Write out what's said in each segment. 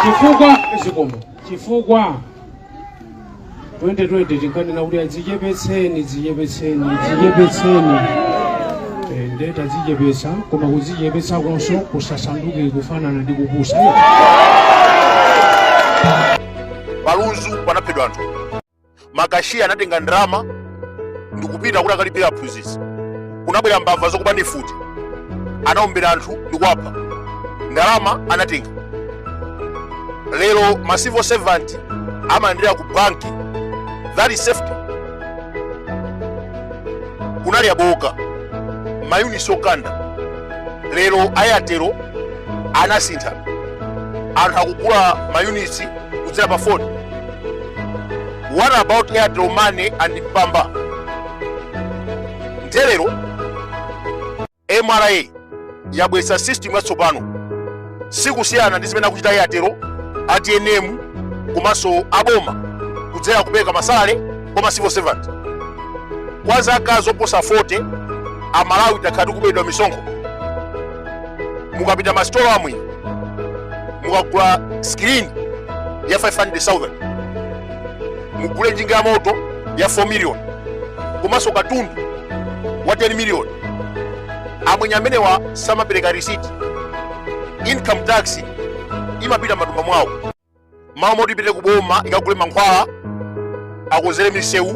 chifukwa zikomo chifukwa 2020 tinkanena kuti adzichepetseni dzichepetseni dzichepetseni Eh, nde tadzichepetsa koma kudzichepetsa konso kusasanduke kufanana ndi kupusa pa Lunzu panaphedwa anthu makashiya anatenga ndalama ndikupita kuti akalipira aphunzitsi kunabwera mbava zokuba ndi mfuti anawombera anthu ndikuwapha ndalama anatenga lero ma civil servant amayendera ku banki that is safety kunali abooka mayunitsi okanda lero a Airtel anasintha anthu akugula mayunitsi kudzera pa foni what about airtel money and mpamba nde lero mra yabweretsa system yatsopano sikusiyana ndi zimene akuchita airtel a tnm komanso aboma kudzera kupereka masalale kwa ma civil servant kwa zaka zoposa 40 amalawi takhala tikuberedwa misonkho mukapita masitolo amwenye mukagula screen ya 500000 mugule njinga ya moto ya 4 million komanso katundu wa 10 million amwenye amenewa samapereka risiti income tax imapita m'matumba mwawo mmalo moti ipite ku boma ikagule mankhwala akonzere misewu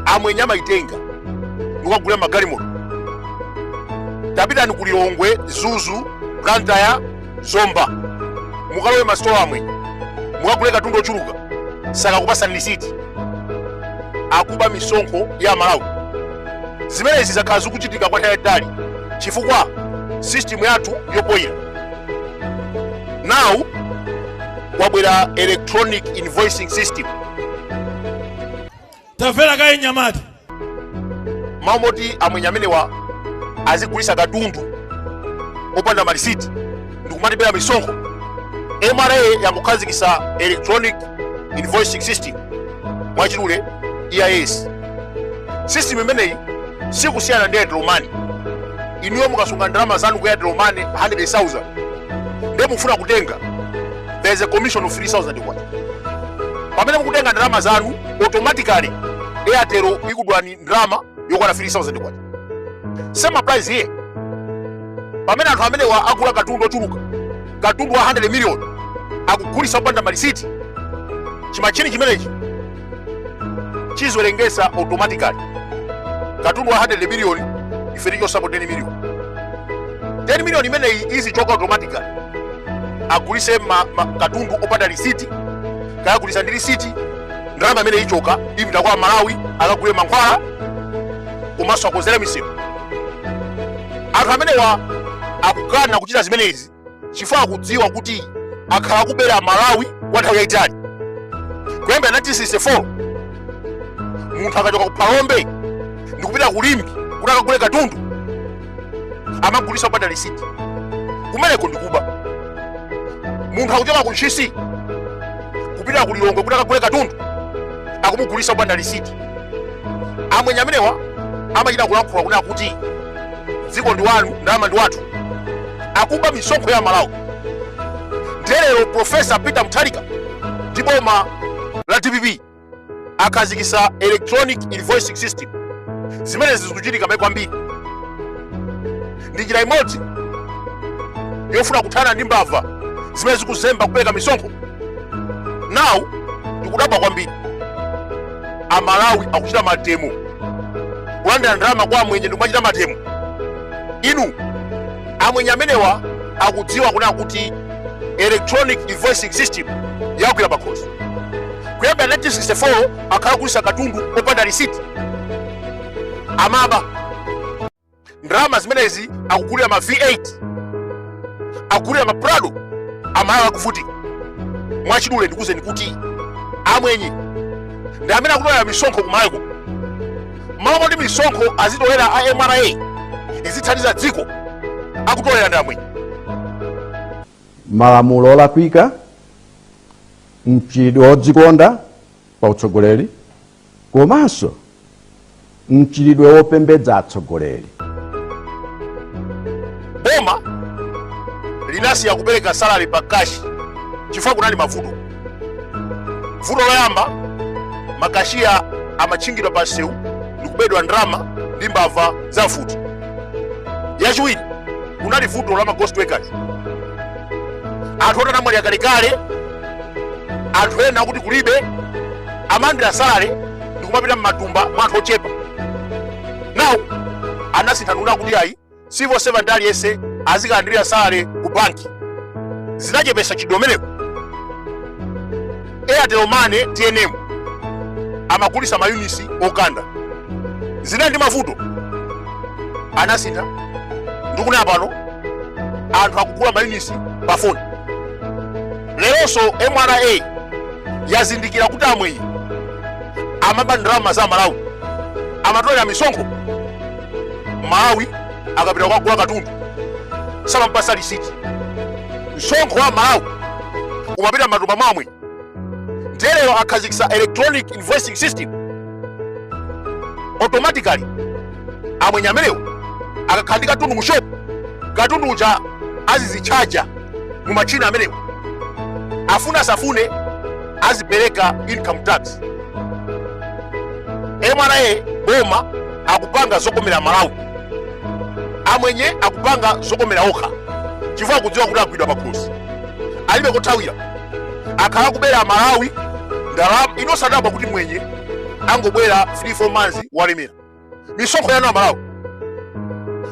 amwenye amayitenga ndikukagula magalimoto tapitani ku lilongwe mzuzu blantyre zomba mukalowe masitolo amwenye mukagule katundu ochuluka sakakupatsani lisiti akuba misonkho ya amalawi zimenezi zakhala zikuchitika kwa nthawi yaitali chifukwa sisitimu yathu yopoira now kwabwera electronic invoicing system tamvera kaye mnyamata mmalo moti amwenye amenewa azigulitsa katundu opanda malisiti ndikumatibera misonkho mra yangokhazikitsa electronic invoicing system mwachidule eis system imeneyi sikusiyana ndi airtel money inuyo mukasunga ndalama zanu ku airtel money 100000 ndiye mukufuna kutenga there is a commission of 3000 kwacha pamene mukutenga ndalama zanu automatically airtel ikudulani ndalama yokwana 3000 kwacha same applies here pamene anthu amenewa agula katundu ochuluka katundu wa 100 million akugulitsa opanda malisiti chimachini chimenechi chiziwerengesa automatically katundu wa 100 miliyoni ife tichosapo 10 miliyoni 10 miliyoni imeneyi izichoka automatically agulise ma, ma, katundu opanda lisiti kaya agulisa ndi lisiti ndalama imene ichoka ipita kwa amalawi akagule mankhwala komanso akonzere misewu anthu amenewa akukana kuchita zimenezi chifukwa akudziwa kuti akhala akubera malawi kwa nthawi yayitali kuyambira 1964 munthu akachoka ku phalombe ndikupita ku limbe kuti akagule katundu amamugulisa opanda lisiti kumeneko ndikuba munthu akuchoka ku ntchisi kupita ku lilongwe kuti akagule katundu akumugulisa opanda lisiti amwenye amenewa amachita kulankhula kunena kuti dziko ndi wanu ndalama ndi wathu akuba misonkho ya amalawi nde lero profesa peter mutharika ndi boma la dpp akhazikisa electronic invoicing system zimenezi zikuchitika maiko ambiri ndi njira imodzi yofuna kuthana ndi mbava zimene zikuzemba kupereka misonkho nawu ndikudabwa kwambiri amalawi akuchita mademo kulandira ndalama kwa amwenye ndikumachita mademo inu amwenye amenewa akudziwa kunena kuti electronic invoicing system yagwira pakhosi kuyambira 1964 akhala akugulisa katundu opanda risiti amaba ndalama zimenezi akugulira ma v8 akugulira ma prado amalawi akuvutika mwachidule ndikuuzeni kuti amwenye ndi amene akutolera misonkho ku malawi mmalo moti misonkho azitolera a mra izithandiza dziko akutolera ndi amwenye malamulo olakwika mchitidwe wodzikonda pa utsogoleri komanso mchitidwe wopembedza atsogoleri. Boma linasiya kupereka salary pa cash chifukwa kunali mavuto. Vuto loyamba, makashiya amatchingidwa pa msewu ndi kubedwa ndalama ndi mbava za mfuti. Yachiwiri, kunali vuto la ma ghost workers. Anthu oti anamwalira kalekale, anthu ena oti kulibe amalandira salary ndikumapita mmatumba mwa anthu ochepa now anasintha ndikunena kuti ayi civil servant aliyense azikalandirira salary ku banki zinachepesa chidomeneko airtel money tnm amagulisa mayunisi okanda zinali ndi mavuto anasintha ndikunena pano anthu akugula mayunisi pa foni leronso mra yazindikira kuti amwenye amaba ndalama za amalawi amatolera misonkho mmalawi akapita kukagula katundu samampasa lisiti msonkho wa amalawi umapita m'matumba mwa amwenye ndiye lero akhazikisa electronic invoicing system automatically amwenye amenewo akakhala ndi katundu mu shop katundu uja azizitchaja mu machina amenewa afune asafune azipereka income tax mra boma akupanga zokomera amalawi amwenye akupanga zokomera okha chifukwa akudziwa kuti agwidwa pakhosi alibe kothawira akhala kubera amalawi ndalama inu simudabwa kuti mwenye angobwera 3 4 months walemera misonkho yanu amalawi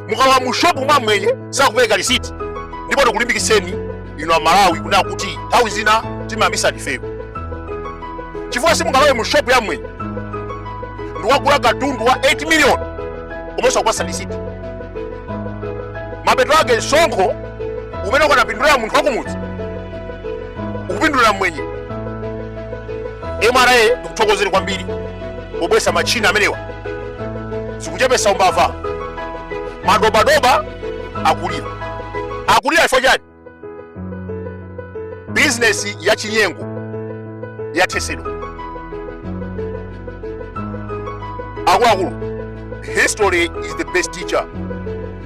mukalowa mu shopu mwa amwenye sakupereka lisiti ndipo tikulimbikitseni inu amalawi kunena kuti nthawi zina timayambisa ndifeo chifukwa simungalowe mu shopu ya mwenye ndikukagula katundu wa 8 million koma osakupasa lisiti mapeto ake msonkho umene ukanapindulira munthu wakumudzi ukupindulira mmwenye mra tikuthokozeni kwambiri pobweresa matchina amenewa zikuchepesa umbava madobadoba akulira akulira chifukwa chani bizinesi ya chinyengo yathesedwa akuluakulu history is the best teacher